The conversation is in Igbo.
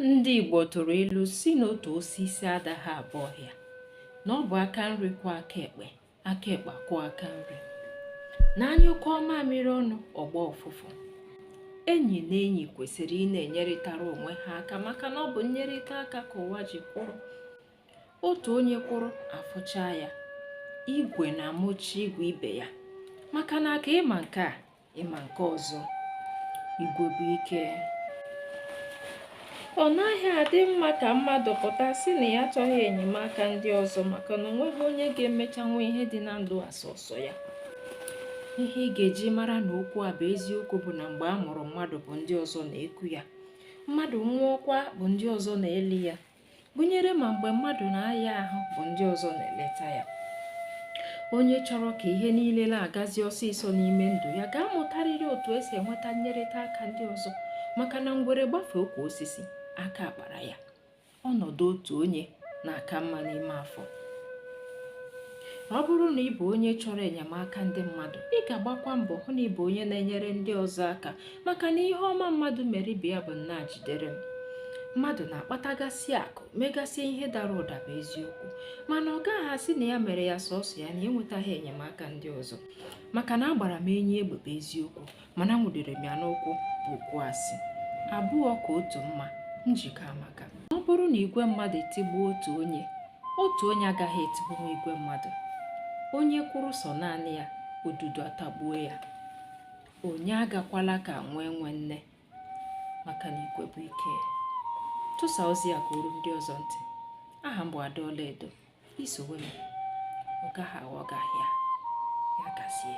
ndị Igbo tụrụ ilu sị na otu osisi adaghị abụ ọhịa na ọ bụ aka nri kwọọ aka ekpe aka ekpe kwọọ aka nri na a nyụkọọ mamịrị ọnụ ọ gbaa ụfụfụ enyi na enyi kwesịrị ịna-enyerịtara onwe ha aka maka na ọ bụ nnyerịta aka ka ụwa ji kwụrụ otu onye kwụrụ a fụchaa ya igwe na-amụchi igwe ibe ya maka na aka ị ma nke a ị ma nke ọzọ igwe bụ ike ọ naghị adị mma ka mmadụ pụta sị na ya achọghị enyemaka ndị ọzọ maka na onweghị onye ga-emechanwu ihe dị na ndụ a sọsọ ya ihe ị ga-eji mara na okwu a bụ eziokwu bụ na mgbe a mụrụ mmadụ bụ ndị ọzọ na-eku ya mmadụ nwụọkwa bụ ndị ọzọ na-eli ya gụnyere ma mgbe mmadụ na-aya ahụ bụ ndị ọzọ na-eleta ya onye chọrọ ka ihe niile na-agazi ọsịsọ n'ime ndụ ya ga-amụtarịrị otu e si enweta nnyerịta aka ndị ọzọ maka na ngwere gbafee ukwu osisi aka akpara ya ọnọdụ otu onye na-aka mma n'ime afọ ọ bụrụ na ị bụ onye chọrọ enyemaka ndị mmadụ ị ga-agbakwa mbọ hụ na ị bụ onye na-enyere ndị ọzọ aka maka na ihe ọma mmadụ mere ibe ya bụ nna jidere m mmadụ na-akpatagasị akụ megasị ihe dara ụda bụ eziokwu mana ọ gaghị asị na ya mere ya sọsọ ya na-enwetaghị enyemaka ndị ọzọ maka na agbara m enyi egbe bụ eziokwu mana nwụdere m ya n'ụkwụ bụ okwu asị abụọ ka otu mma njikọ amaka ọ bụrụ na igwe mmadụ etigbuo otu onye otu onye agaghị etigbuo igwe mmadụ onye kwụrụ sọ naanị ya odudu atagbuo ya onye agakwala ka nwa enwe nne maka na igwe bụ ike tụsaa ozi a ka o ruo ndị ọzọ ntị aha m bụ Ada Ọlaedo i sowe m ọ gaghị aghọ gị ahịa ya gazie